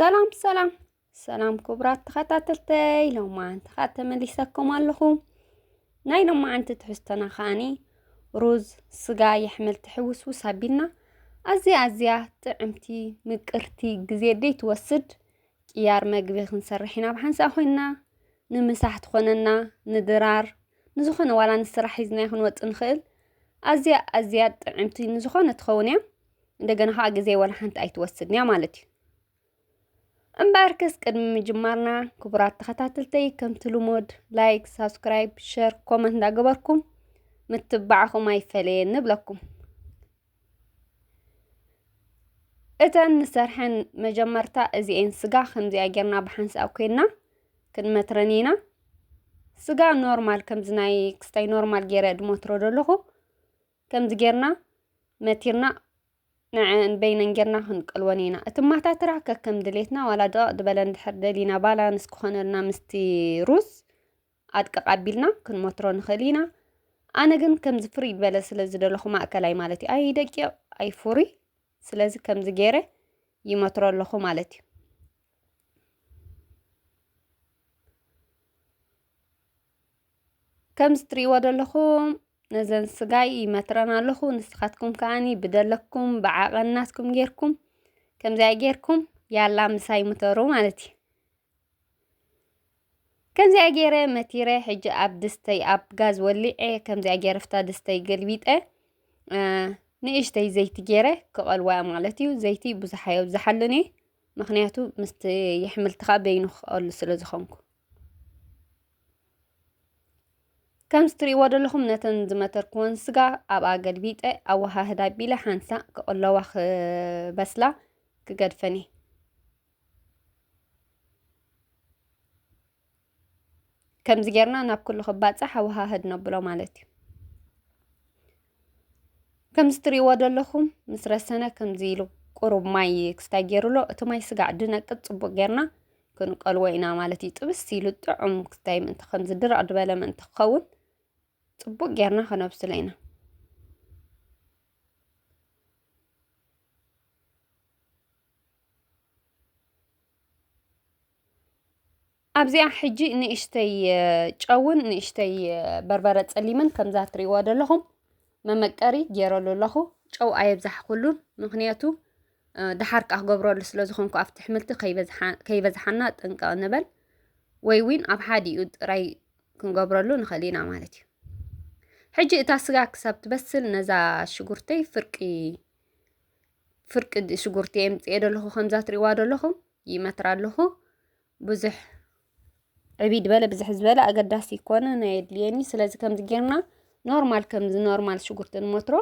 ሰላም ሰላም ሰላም ክቡራት ተኸታተልተይ ሎማዓንቲ ከዓ ተመሊሰኩም ኣለኹ ናይ ሎማዓንቲ ትሕዝቶና ከዓኒ ሩዝ ስጋ የሕምልቲ ሕውስውስ ኣቢልና ኣዝያ ኣዝያ ጥዕምቲ ምቅርቲ ግዜ ደይትወስድ ቅያር መግቢ ክንሰርሕ ኢና ብሓንሳእ ኮይንና፣ ንምሳሕ ትኾነና፣ ንድራር፣ ንዝኾነ ዋላ ንስራሕ ሒዝናዮ ክንወጽእ ንኽእል። ኣዝያ ኣዝያ ጥዕምቲ ንዝኾነ ትኸውን እያ። እንደገና ከዓ ግዜ ወላ ሓንቲ ኣይትወስድን እያ ማለት እዩ። እምበኣርከስ ቅድሚ ምጅማርና ክቡራት ተኸታተልተይ ከምቲ ልሙድ ላይክ፣ ሳብስክራይብ፣ ሸር፣ ኮመንት እንዳገበርኩም ምትባዕኹም ኣይፈለየን ንብለኩም። እተን ንሰርሐን መጀመርታ እዚኤን ስጋ ከምዚኣ ጌርና ብሓንሳእ ኮይና ክንመትረን ኢና ስጋ ኖርማል ከምዚ ናይ ክስታይ ኖርማል ጌረ ድመትሮ ደለኹ ከምዚ ጌርና መቲርና ንዐን በይነን ጌርና ክንቀልወን ኢና እቲ ማታትራ ከከም ድሌትና ዋላ ደቐቕ ድበለ እንድሕር ደሊና ባላንስ ክኾነልና ምስቲ ሩዝ ኣድቅቕ ኣቢልና ክንመትሮ ንኽእል ኢና ኣነ ግን ከምዚ ፍርይ ዝበለ ስለ ዝደለኹ ማእከላይ ማለት እዩ ኣይደቂቕ ኣይፍሩይ ስለዚ ከምዚ ገይረ ይመትሮ ኣለኹ ማለት እዩ ከምዚ ትርእይዎ ዘለኹም ነዘን ስጋይ ይመትረን ኣለኹ ንስኻትኩም ከዓኒ ብደለኩም ብዓቐናትኩም ጌርኩም ከምዚኣ ጌርኩም ያላ ምሳይ ምተሩ ማለት እዩ ከምዚኣ ጌረ መቲረ ሕጂ ኣብ ድስተይ ኣብ ጋዝ ወሊዐ ከምዚኣ ጌረ ፍታ ድስተይ ገልቢጠ ንእሽተይ ዘይቲ ጌረ ክቐልዋ ማለት እዩ ዘይቲ ብዙሕ ኣየብዝሓሉን እየ ምክንያቱ ምስቲ የሕምልቲ ከዓ በይኑ ክቐሉ ስለ ዝኾንኩ ከምዚ ትርእይዎ ዘለኹም ነተን ዝመተርክወን ስጋ ኣብኣ ገልቢጠ ኣወሃህዳ ቢለ ሓንሳእ ክቕለዋ ክበስላ ክገድፈን እየ ከምዚ ጌርና ናብ ኩሉ ክባጻሕ ኣወሃህድ ነብሎ ማለት እዩ ከምዚ ትሪእዎ ዘለኹም ምስ ረሰነ ከምዚ ኢሉ ቁሩብ ማይ ክስታይ ገይሩሎ እቲ ማይ ስጋዕ ድነቅጥ ጽቡቅ ጌርና ክንቀልዎ ኢና ማለት እዩ ጥብስ ኢሉ ጥዑም ክስታይ ምእንቲ ከምዚ ድረቅ ድበለ ምእንቲ ክኸውን ጽቡቅ ጌርና ከነብስሎ ኢና ኣብዚኣ ሕጂ ንእሽተይ ጨውን ንእሽተይ በርበረ ጸሊምን ከምዛ ትሪእዋ ዘለኹም መመቀሪ ገይረሉ ኣለኹ ጨው ኣየብዛሕኩሉን ምክንያቱ ድሓር ከዓ ክገብረሉ ስለ ዝኾንኩ ኣብቲ ኣሕምልቲ ከይበዝሓና ጥንቃቕ ንበል ወይ እውን ኣብ ሓዲኡ ጥራይ ክንገብረሉ ንኽእል ኢና ማለት እዩ ሕጂ እታ ስጋ ክሳብ ትበስል ነዛ ሽጉርተይ ፍርቂ ፍርቂ ሽጉርቲ እየ ምፅኤ ደለኹ ከምዛ ትሪእዋ ደለኹም ይመትር ኣለኹ ብዙሕ ዕብይ ዝበለ ብዝሕ ዝበለ ኣገዳሲ ኮነ ናይ ኣድልየኒ ስለዚ ከምዚ ጌርና ኖርማል ከምዚ ኖርማል ሽጉርቲ ንመትሮ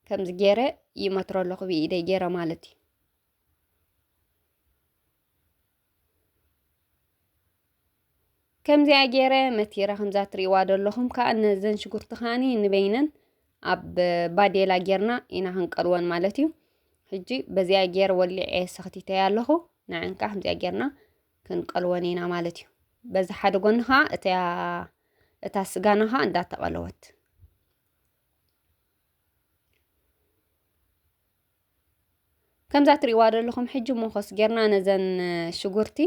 ከምዚ ጌረ ይመትሮ ኣለኹ ብኢደይ ጌረ ማለት እዩ ከምዚኣ ገይረ መቲረ ከምዛ ትሪእዋ ዘለኹም ከዓ ነዘን ሽጉርቲ ከዓኒ ንበይነን ኣብ ባዴላ ጌርና ኢና ክንቀልወን ማለት እዩ ሕጂ በዚኣ ጌር ወሊዐ ሰኽቲተያ ኣለኹ ንዐን ከዓ ከምዚኣ ጌርና ክንቀልወን ኢና ማለት እዩ በዚ ሓደ ጎኒ ከዓ እታ ስጋና ከዓ እንዳተቐለወት ከምዛ ትሪእዋ ዘለኹም ሕጂ ሞኾስ ጌርና ነዘን ሽጉርቲ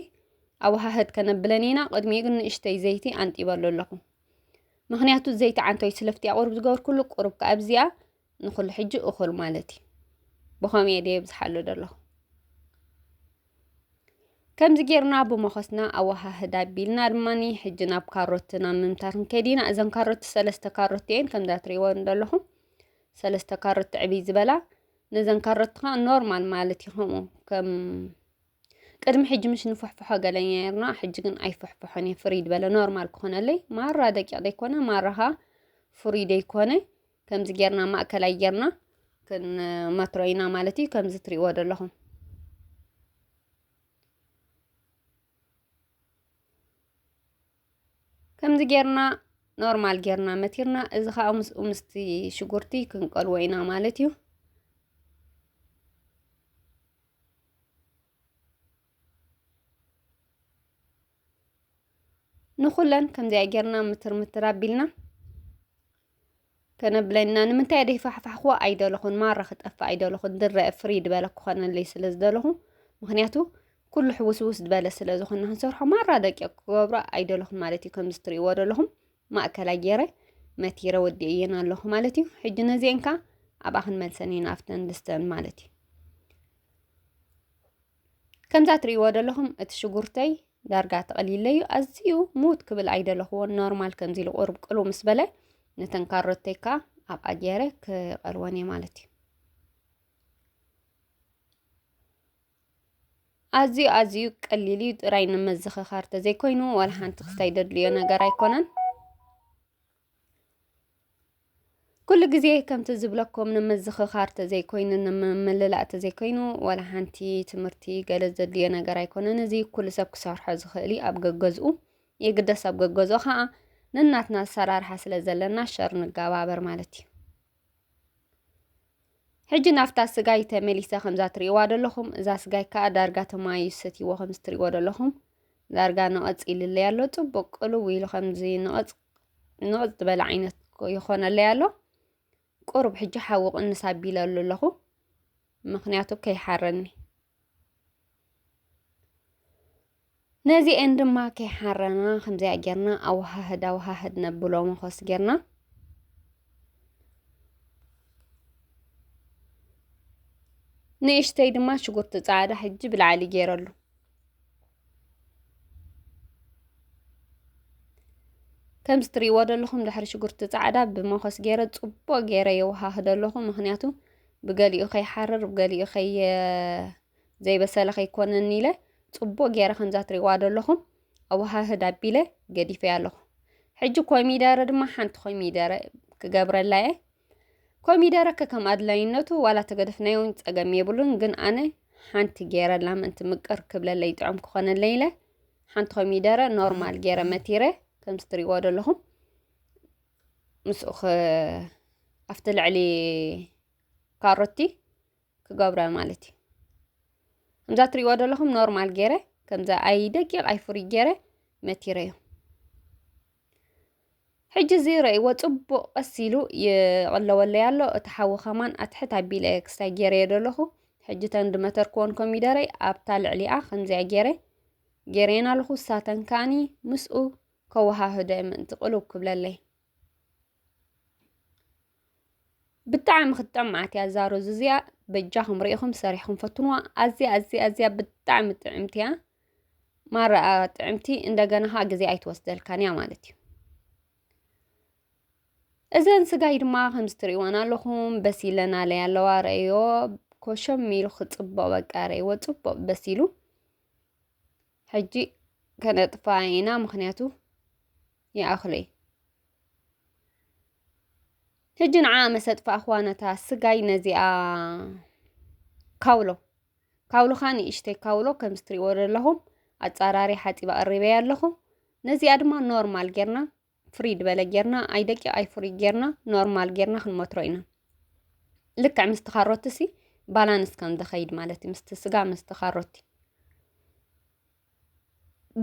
ኣወሃህድ ከነብለን ኢና ቅድሚኡ ግን ንእሽተይ ዘይቲ ኣንጢበሉ ኣለኹ ምክንያቱ ዘይቲ ዓንተይ ስለፍትያ ቁርብ ዝገበርኩሉ ቁርብ ከዓ ኣብዚኣ ንኩሉ ሕጂ እኹል ማለት እዩ ብኸምኡ እየ ደየ ብዝሓሉ ዘለኹ ከምዚ ጌርና ብመኾስና ኣወሃህድ ኣቢልና ድማኒ ሕጂ ናብ ካሮትና ምምታር ንከይድ ኢና እዘን ካሮት ሰለስተ ካሮት እየን ከምዛ ትሪእወን ዘለኹም ሰለስተ ካሮት ዕብይ ዝበላ ነዘን ካሮት ከዓ ኖርማል ማለት እዩ ከምኡ ከም ቅድሚ ሕጂ ምሽ ንፈሕፍሖ ገለኛ ርና ሕጂ ግን ኣይፈሕፍሖን እየ ፍሪድ በለ ኖርማል ክኾነለይ ማራ ደቂቕ ዘይኮነ ማራ ኸዓ ፍሩይ ዘይኮነ ከምዚ ጌርና ማእከላይ ጌርና ክንመትሮ ኢና ማለት እዩ ከምዚ ትሪእዎ ዘለኹም ከምዚ ጌርና ኖርማል ጌርና መቲርና እዚ ከዓ ምስኡ ምስቲ ሽጉርቲ ክንቀልዎ ኢና ማለት እዩ ንኹለን ከምዚኣ ጌርና ምትር ምትር ኣቢልና ከነብለና ንምንታይ ደይ ፋሕፋሕክዎ ኣይደለኹን ማራ ክጠፍእ ኣይደለኹን ድረ ፍሪ ድበለ ክኾነለይ ስለ ዝደለኹ ምክንያቱ ኩሉ ሕውስውስ ድበለ ስለ ዝኾነ ክንሰርሖ ማራ ደቂ ክገብሮ ኣይደለኹን ማለት እዩ ከምዚ ትርእይዎ ደለኹም ማእከላይ ገይረ መቲረ ወዲእየን ኣለኹ ማለት እዩ ሕጂ ነዚአን ከ ኣብኣ ክንመልሰን ኢና ኣብተን ድስተን ማለት እዩ ከምዛ ትርእይዎ ዘለኹም እቲ ሽጉርተይ ዳርጋ ተቐሊለዩ ኣዝዩ ሙት ክብል ኣይደለኹዎን ኖርማል ከምዚ ኢሉ ቁርብ ቅሉ ምስ በለ ነተን ካሮተይ ከዓ ኣብ ኣጀረ ክቐልወን እየ ማለት እዩ ኣዝዩ ኣዝዩ ቀሊል እዩ ጥራይ ንመዘኸኻር ተዘይኮይኑ ዋላ ሓንቲ ክሳይ ደድልዮ ነገር ኣይኮነን ኩሉ ግዜ ከምቲ ዝብለኩም ንምዝኽኻር ተዘይኮይኑ ንምምልላእ ተዘይኮይኑ ዋላ ሓንቲ ትምህርቲ ገለ ዘድልዮ ነገር ኣይኮነን እዚ ኩሉ ሰብ ክሰርሖ ዝኽእል እዩ ኣብ ገገዝኡ የግደስ ኣብ ገገዝኦ ከዓ ነናትና ኣሰራርሓ ስለ ዘለና ሸር ንገባበር ማለት እዩ ሕጂ ናብታ ስጋይ ተመሊሰ ከምዛ ትርእይዋ ዘለኹም እዛ ስጋይ ከዓ ዳርጋ ተማዩ ሰትይዎ ከምዚ ትርእይዎ ዘለኹም ዳርጋ ነቐፅ ኢልለይ ኣሎ ፅቡቅ ቅልው ኢሉ ከምዚ ነቐፅ ንቕፅ ዝበለ ዓይነት ይኾነለይ ኣሎ ቁሩብ ሕጂ ሓዊ ቅንስ ኣቢለሉ ኣለኹ ምክንያቱ ከይሓረኒ ነዚኤን ድማ ከይሓረና ከምዚኣ ጌርና ኣወሃህድ ኣወሃህድ ነብሎ መኾስ ጌርና ንእሽተይ ድማ ሽጉርቲ ፃዕዳ ሕጂ ብላዕሊ ገይረሉ ከምዚ ትሪእዎ ዘለኹም ድሕሪ ሽጉርቲ ፃዕዳ ብመኾስ ገይረ ፅቡቅ ገይረ የወሃህዶ ኣለኹ ምክንያቱ ብገሊኡ ከይሓርር ብገሊኡ ከየ ዘይበሰለ ከይኮነኒ ኢለ ፅቡቅ ገይረ ከምዛ ትሪእዋ ዘለኹም ኣወሃህድ ኣቢለ ገዲፈያ ኣለኹ ሕጂ ኮሚደረ ድማ ሓንቲ ኮሚደረ ክገብረላ እየ ኮሚደረ ከከም ኣድላይነቱ ዋላ ተገደፍናዮ ጸገም የብሉን ግን ኣነ ሓንቲ ገይረ ላምንቲ ትምቅር ክብለለይ ጥዑም ክኾነለይ ኢለ ሓንቲ ኮሚደረ ኖርማል ገይረ መቲረ ከምዚ ትሪእዎ ዘለኹም ምስኡ ኣብቲ ልዕሊ ካሮቲ ክገብረ ማለት እዩ ከምዛ ትሪእዎ ዘለኹም ኖርማል ገይረ ከምዛ ኣይ ደቂቕ ኣይ ፍሩይ ገይረ መቲረ እዩ ሕጂ እዚ ረእይዎ ጽቡቕ ቀስ ኢሉ ይቕለወለይ ኣሎ እቲ ሓዊ ከማን ኣትሕት ኣቢለ ክስታይ ገይረዮ ደለኹ ሕጂ ተን ድመተርክወን ኮሚደረይ ኣብታ ልዕሊኣ ከምዚኣ ገይረ ገይረየን ኣለኹ ሳተን ከኣኒ ምስኡ ከወሃህደ ምእንቲ ቅልው ክብለለይ ብጣዕሚ ክትጠምዓት እያ እዛ ሩዝ እዚኣ በጃኹም ርኢኹም ሰሪሕኩም ፈትንዋ ኣዝያ ኣዝያ ኣዝያ ብጣዕሚ ጥዕምቲ እያ ማራ ጥዕምቲ እንደገና ኸዓ ግዜ ኣይትወስደልካን እያ ማለት እዩ እዘን ስጋይ ድማ ከምዚ ትሪእወን ኣለኹም በሲለን ኣለይ ኣለዋ ረእዮ ኮሸም ኢሉ ክፅቡቕ በቃ ረእይዎ ፅቡቕ በሲሉ ሕጂ ከነጥፋ ኢና ምክንያቱ ይኣኽለይ ሕጂ ንዓ መሰጥፋ ኣኽዋነታ ስጋይ ነዚኣ ካውሎ ካውሎኻ ንእሽተይ ካውሎ ከም ዝትሪእዎ ዘለኹም ኣጻራሪ ሓጺባ ቀሪበያ ኣለኹ ነዚኣ ድማ ኖርማል ጌርና ፍሪ ድበለ ጌርና ኣይ ደቂ ኣይ ፍሪ ጌርና ኖርማል ጌርና ክንመትሮ ኢና ልክዕ ምስቲ ካሮትሲ ባላንስ ከም ዝኸይድ ማለት እዩ ምስቲ ስጋ ምስቲ ካሮቲ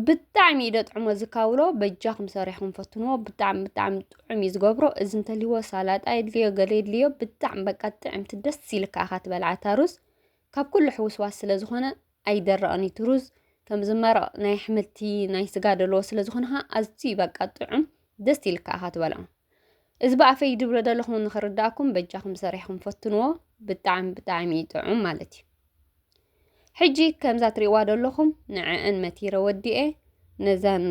ብጣዕሚ እዩ ደጥዕሞ እዚ ካውሎ በጃኹም ሰሪሕኩም ፈትንዎ ብጣዕሚ ብጣዕሚ ጥዑም እዩ ዝገብሮ እዚ እንተልይዎ ሳላጣ የድልዮ ገለ የድልዮ ብጣዕሚ በቃ ጥዕምቲ ደስ ኢልካ ኢኻ ትበልዓ እታ ሩዝ ካብ ኩሉ ሕውስዋስ ስለ ዝኾነ ኣይደረቕን እዩ እቲ ሩዝ ከም ዝመረቕ ናይ ኣሕምልቲ ናይ ስጋ ደለዎ ስለ ዝኾነ ኸዓ ኣዝዩ በቃ ጥዑም ደስ ኢልካ ኢኻ ትበልዖ እዚ ብኣፈይ ድብሎ ደለኹም ንኽርዳእኩም በጃኹም ሰሪሕኩም ፈትንዎ ብጣዕሚ ብጣዕሚ እዩ ጥዑም ማለት እዩ ሕጂ ከምዛ ትሪእዋ ደለኹም ንዐአን መቲረ ወዲኤ ነዛን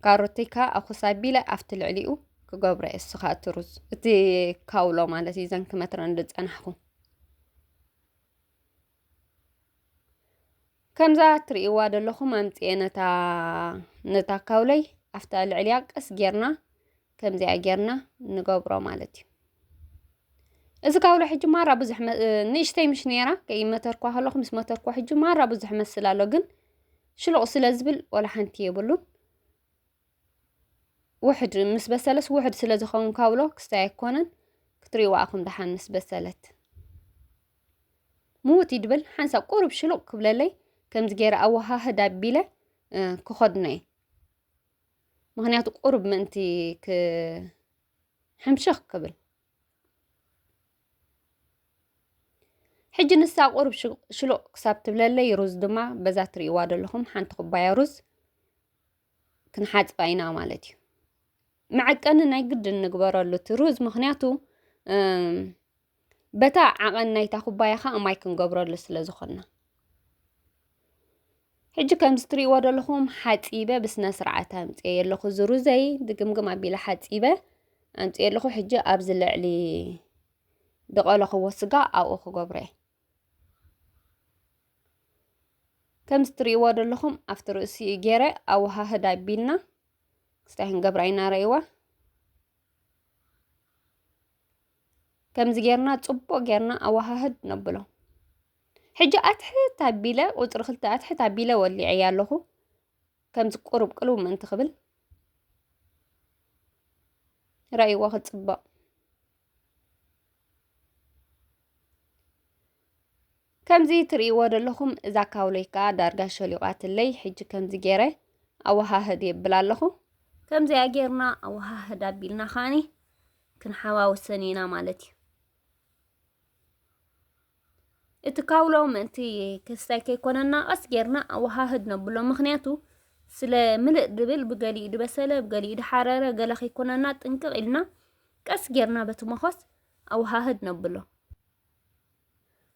ካሮተይ ከዓ ኣኹስ ኣቢለ ኣብቲ ልዕሊኡ ክገብሮ እየ እሱ ከዓ እቲ ሩዝ እቲ ካውሎ ማለት እዩ ዘን ክመትረን ዝፀናሕኹ ከምዛ ትርእይዋ ዘለኹም ኣምፅኤ ነታ ነታ ካውለይ ኣብታ ልዕሊያ ቀስ ጌርና ከምዚኣ ጌርና ንገብሮ ማለት እዩ እዚ ካብሎ ሕጂ ማራ ብዙሕ ንእሽተይ ምሽ ነይራ ከይመተርኳ ከለኹ ምስ መተርኳ ሕጂ ማራ ብዙሕ መስል ኣሎ ግን ሽሉቕ ስለ ዝብል ወላ ሓንቲ የብሉን ውሕድ ምስ በሰለስ ውሕድ ስለ ዝኸውን ካብሎ ክስታይ ኣይኮነን ክትሪእዋ ኣኹም ደሓን ምስ በሰለት ምውት ይድብል ሓንሳብ ቁሩብ ሽሉቕ ክብለለይ ከምዚ ገይረ ኣወሃህድ ኣቢለ ክኸድኖ እየ ምክንያቱ ቁሩብ ምእንቲ ክሕምሽኽ ክብል ሕጂ ንሳ ቁሩብ ሽሉቕ ክሳብ ትብለለይ ሩዝ ድማ በዛ ትርእይዋ ዘለኹም ሓንቲ ኩባያ ሩዝ ክንሓፅባ ኢና ማለት እዩ መዐቀኒ ናይ ግድን ንግበረሉ እቲ ሩዝ ምክንያቱ በታ ዓቐን ናይታ ኩባያ ኸኣ ማይ ክንገብረሉ ስለ ዝኾንና ሕጂ ከምዚ ትርእይዎ ዘለኹም ሓፂበ ብስነ ስርዓት ኣምፅኤ ኣለኹ እዚ ሩዘይ ድግምግም ኣቢለ ሓፂበ ኣምፅኤ ኣለኹ ሕጂ ኣብዚ ልዕሊ ድቐለኽዎ ስጋ ኣብኡ ክገብሮ እየ ከምዚ ትርእይዎ ዘለኹም ኣብቲ ርእሲ እዩ ገይረ ኣወሃህድ ኣቢልና ክስታይ ክንገብራ ኢና ረእይዋ ከምዚ ጌርና ጽቡቕ ጌርና ኣወሃህድ ነብሎ ሕጂ ኣትሕት ኣቢለ ቁጽሪ ክልተ ኣትሕት ኣቢለ ወሊዐያ ኣለኹ ከምዚ ቁሩብ ቅልው ምእንቲ ክብል ረእይዎ ክጽበቕ ከምዚ ትርእይዎ ዘለኹም እዛ ካውሎይ ከኣ ዳርጋ ሸሊቋትለይ ሕጂ ከምዚ ገይረ ኣወሃህድ የብላ ኣለኹ። ከምዚኣ ጌርና ኣወሃህድ ኣቢልና ከኣኒ ክንሓዋውሰን ኢና ማለት እዩ። እቲ ካውሎ ምእንቲ ክስታይ ከይኮነና ቀስ ጌርና ኣወሃህድ ነብሎ ምክንያቱ ስለ ምልእ ድብል ብገሊኡ ድበሰለ ብገሊኡ ድሓረረ ገለ ከይኮነና ጥንቅቕ ኢልና ቀስ ጌርና በቲ መኾስ ኣወሃህድ ነብሎ።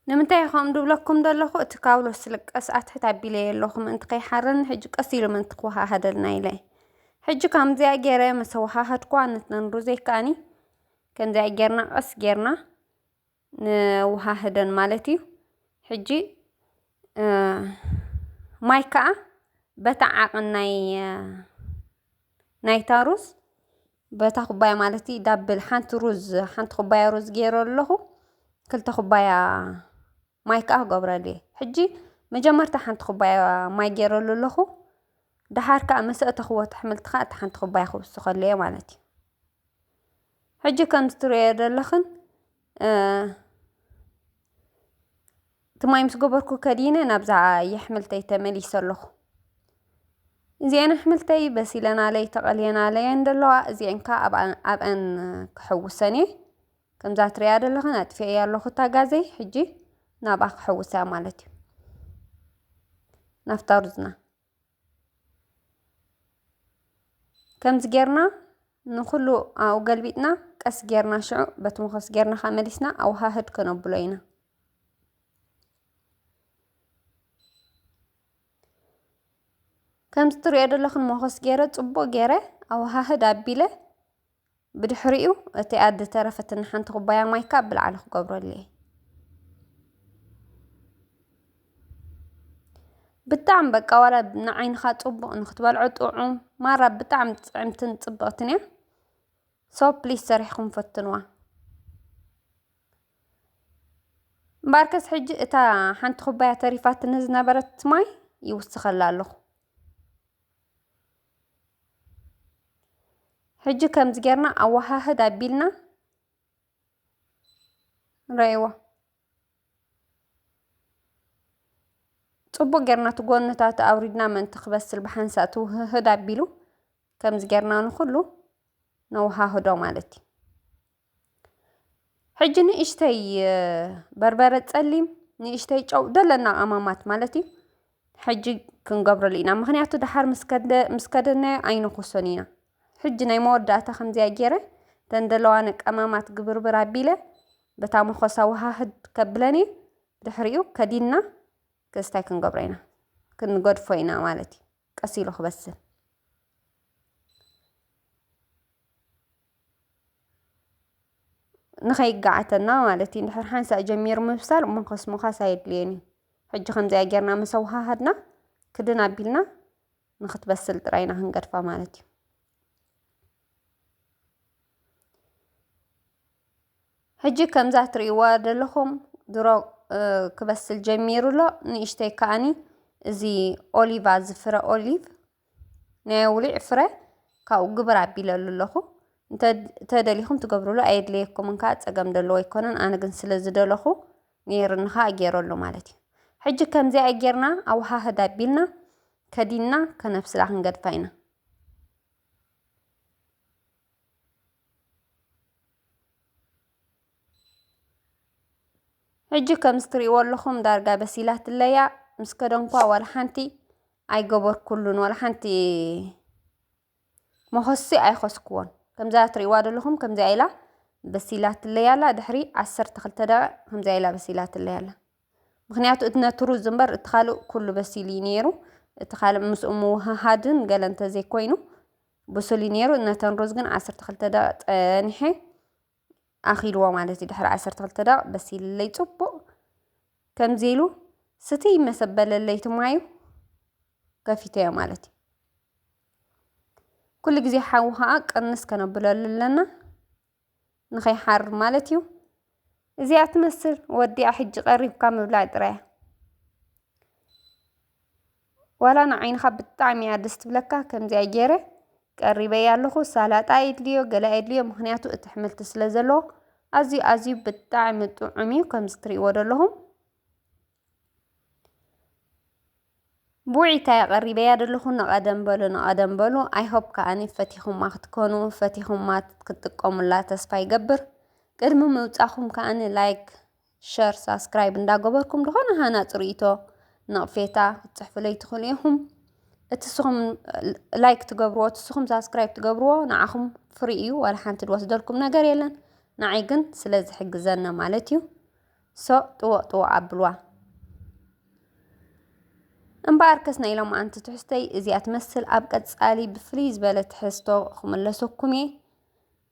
ንምንታይ ከምኡ ድብለኩም ደለኹ እቲ ካብሎ ስልቀስ ኣትሕት ኣቢለየ ኣለኹ ምእንቲ ከይሓረኒ ሕጂ ቀስ ኢሉ ምእንቲ ክወሃሃደልና ኢለ ሕጂ ከምዚኣ ገይረ መሰ ወሃሃድኩዋ ንተንሩዘይ ከኣኒ ከምዚኣ ጌርና ቀስ ጌርና ንወሃህደን ማለት እዩ ሕጂ ማይ ከዓ በታ ዓቕን ናይ ናይታ ሩዝ በታ ኩባያ ማለት ዳብል ሓንቲ ሩዝ ሓንቲ ኩባያ ሩዝ ገይረ ኣለኹ ክልተ ኩባያ ማይ ከዓ ክገብረሉ እየ ሕጂ መጀመርታ ሓንቲ ኩባያ ማይ ገይረሉ ኣለኹ ደሓር ከዓ ምስ ኣእተኽዎ እቲ ኣሕምልቲ ከዓ እቲ ሓንቲ ኩባያ ክውስኸሉ እየ ማለት እዩ ሕጂ ከምቲ ትርእዮ ዘለኽን እቲ ማይ ምስ ገበርኩ ከዲነ ናብዛ የሕምልተይ ተመሊሰ ኣለኹ። እዚኤን ኣሕምልተይ በሲለናለይ ተቐልየናለይን ደለዋ እዚኤን ከኣ ኣብኣን ክሕውሰን እየ። ከምዛ ትርእያ ዘለኽን ኣጥፊኤያ ኣለኹ እታ ጋዘይ ሕጂ ናብኣ ክሕውሳ ማለት እዩ። ናፍታ ሩዝና ከምዚ ጌርና ንኹሉ ኣብኡ ገልቢጥና ቀስ ጌርና ሽዑ በቲ መኾስ ጌርና ከ መሊስና ኣወሃህድ ከነብሎ ኢና። ከምዚ ትሪኦ ዘለኹን መኾስ ጌረ ጽቡቕ ጌረ ኣወሃህድ ኣቢለ ብድሕሪኡ እቲኣ ዝተረፈትኒ ሓንቲ ኩባያ ማይ ካብ ብላዕሊ ክገብረሉ እየ። ብጣዕሚ በቃ ዋላ ንዓይንኻ ጽቡቕ ንክትበልዖ ጥዑም ማራ ብጣዕሚ ጥዕምትን ጽብቕትን እያ ሶ ፕሊስ ሰሪሕኩም ፈትንዋ እምበኣርከስ ሕጂ እታ ሓንቲ ኩባያ ተሪፋትኒ ዝነበረት ማይ ይውስኸላ ኣለኹ ሕጂ ከምዚ ጌርና ኣወሃህድ ኣቢልና ንርእይዎ። ጽቡቕ ጌርና እቲ ጎንታቱ ኣውሪድና ምእንቲ ክበስል ብሓንሳእ እቲ ውህህድ ኣቢሉ ከምዚ ጌርና ንኹሉ ነወሃህዶ ማለት እዩ። ሕጂ ንእሽተይ በርበረ ጸሊም ንእሽተይ ጨው ደለና ቀማማት ማለት እዩ። ሕጂ ክንገብረሉ ኢና ምክንያቱ ድሓር ምስ ከደ ምስ ከደናዮ ኣይንኩሶን ኢና። ሕጂ ናይ መወዳእታ ከምዚኣ ጌረ እተን ዘለዋኒ ቀማማት ግብርብር ኣቢለ በታ መኮሳ ወሃህድ ከብለን እየ። ድሕሪኡ ከዲና ክስታይ ክንገብሮ ኢና ክንገድፎ ኢና ማለት እዩ። ቀስ ኢሉ ክበስል። ንኸይጋዓተና ማለት እዩ እንድሕር ሓንሳእ ጀሚሩ ምብሳል ሞኸስ ሞኻስ ኣየድልዮን እዩ ሕጂ ከምዚኣ ጌርና ምስ ኣወሃሃድና ክድን ኣቢልና ንኽትበስል ጥራይ ኢና ክንገድፋ ማለት እዩ ሕጂ ከምዛ ትርእይዋ ዘለኹም ድሮ ክበስል ጀሚሩ ኣሎ ንእሽተይ ከዓኒ እዚ ኦሊቫ ዝፍረ ኦሊቭ ናይ ኣውሊዕ ፍረ ካብኡ ግብር ኣቢለሉ ኣለኹ እንተደሊኹም ትገብርሉ ኣየድለየኩምን ከዓ ፀገም ደለዎ ኣይኮነን ኣነ ግን ስለ ዝደለኹ ነይርኒ ከዓ ገይረሉ ማለት እዩ ሕጂ ከምዚኣ ጌርና ኣወሃህድ ኣቢልና ከዲንና ከነብስላ ክንገድፋ ኢና ሕጂ ከምዚ ትሪእዎ ኣለኹም ዳርጋ በሲላትለያ ምስ ከደንኳ ዋላ ሓንቲ ኣይገበርኩሉን ዋላ ሓንቲ መኸሲ ኣይኸስኩዎን ከምዛ ትሪእዋ ዘለኹም ከምዚኣ ኢላ በሲላትለይ ኣላ ድሕሪ ዓሰርተ ክልተ ደቂቕ ከምዚኣ ኢላ በሲላትለይ ኣላ ምክንያቱ እቲ ነቲ ሩዝ እምበር እቲ ካልእ ኩሉ በሲሉ እዩ ነይሩ እቲ ካልእ ምስኡ ምውህሃድን ገለ እንተዘይኮይኑ ብሱል እዩ ነይሩ ነተን ሩዝ ግን ዓሰርተ ክልተ ደቂቕ ፀኒሐ ኣኺልዎ ማለት እዩ ድሕሪ ዓሰርተ ክልተ ደቕ በሲልለይ ጽቡቕ ከምዚ ኢሉ ስትይ መሰበለለይ ትማዩ ከፊተዮ ማለት እዩ ኩሉ ግዜ ሓዊ ከዓ ቅንስ ከነብለሉ ኣለና ንኸይሓር ማለት እዩ እዚኣ ትመስል ወዲኣ ሕጂ ቀሪብካ ምብላዕ ጥራያ ዋላ ንዓይንኻ ብጣዕሚ እያ ደስ ትብለካ ከምዚኣ ገይረ ቀሪበያ ኣለኹ ሳላጣ የድልዮ ገለ የድልዮ ምክንያቱ እቲ ኣሕምልቲ ስለ ዘለዎ ኣዝዩ ኣዝዩ ብጣዕሚ ጥዑም እዩ ከምዚ ትሪእዎ ዘለኹም ብውዒታ እያ ቀሪበያ ዘለኹ ንቐደም በሉ ንቐደም በሉ ኣይሆፕ ከዓኒ ፈቲኹማ ክትኮኑ ፈቲኹማ ክትጥቀሙላ ተስፋ ይገብር ቅድሚ ምውፃኹም ከዓኒ ላይክ ሸር ሳስክራይብ እንዳገበርኩም ድኾነ ሃናጽ ርእይቶ ነቕፌታ ክትጽሕፉለይ ትኽእሉ ኢኹም እትስኹም ላይክ ትገብርዎ እትስኹም ሳስክራይብ ትገብርዎ ንዓኹም ፍሪ እዩ ዋላ ሓንቲ ዝወስደልኩም ነገር የለን ንዓይ ግን ስለ ዝሕግዘና ማለት እዩ ሶ ጥወቕ ጥወቕ ኣብልዋ እምበኣር ከስ ናይ ኢሎም ኣንቲ ትሕዝተይ እዚኣ ትመስል ኣብ ቀጻሊ ብፍልይ ዝበለ ትሕዝቶ ክምለሰኩም እየ